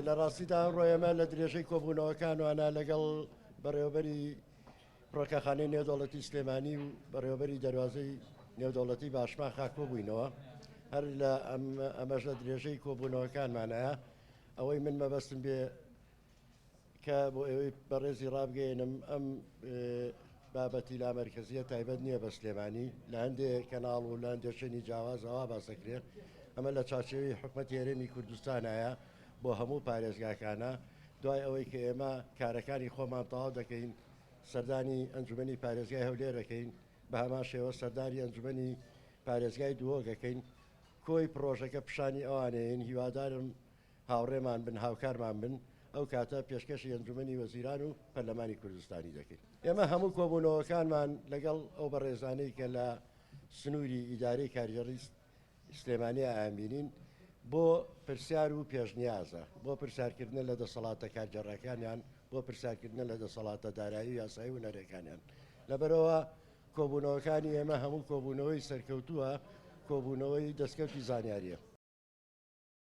لە ڕاستیدا ئەمڕۆ ئێمە لە درێژەی کۆبوونەوەکان وانە لەگەڵ بەڕێوەبەری ڕۆکەخانەی نێودەوڵەتی سلێمانی و بەڕێوەبەری دەروازەی نێودەوڵەتی باشمان خاکۆ بووینەوە هەر لە ئەمەش لە درێژەی کۆبوونەوەکانمانەیە ئەوەی من مەبەستم بێ کە بۆ ئێوەی بەڕێزی ڕابگەیەنم ئەم بابەتی لا مەرکزیە تایبەت نییە بە سلێمانی لە هەندێ کەناڵ و لە هەندێ شوێنی جیاوازەوە باسەکرێت ئەمە لە چاچێوی حکومت هێرێمی کوردستانایە بۆ هەموو پارێزگاکانە دوای ئەوەی کە ئێمە کارەکانی خۆمان تەواو دەکەین سەردانی ئەنجومی پارێزگای هەولێر دەکەین بە هەمان شێوە سەرداری ئەنجومی پارێزگای دووەگەکەین کۆی پرۆژەکە پیشانی ئەوانەیەن هیوادارم هاوڕێمان بن، هاوکارمان بن، ئەو کاتە پێشکەشی ئەنجومەنی وەزیران و پەرلەمانی کوردستانی دەکەین. ئێمە هەموو کۆبوونەوەکانمان لەگەڵ ئەو بەڕێزانەی کە لە سنووری ئیدارەی کارگێڕی سلێمانی ئایانبینین بۆ پرسیار و پێشنیازە، بۆ پرسیارکردنە لە دەسەڵاتە کارگێڕەکانیان، بۆ پرسیارکردنە لە دەسەڵاتە دارایی و یاسایی و هونەریەکانیان. لەبەرئەوە کۆبوونەوەکانی ئێمە هەموو کۆبوونەوەی سەرکەوتووە، کۆبوونەوەی دەستکەوتی زانیارییە.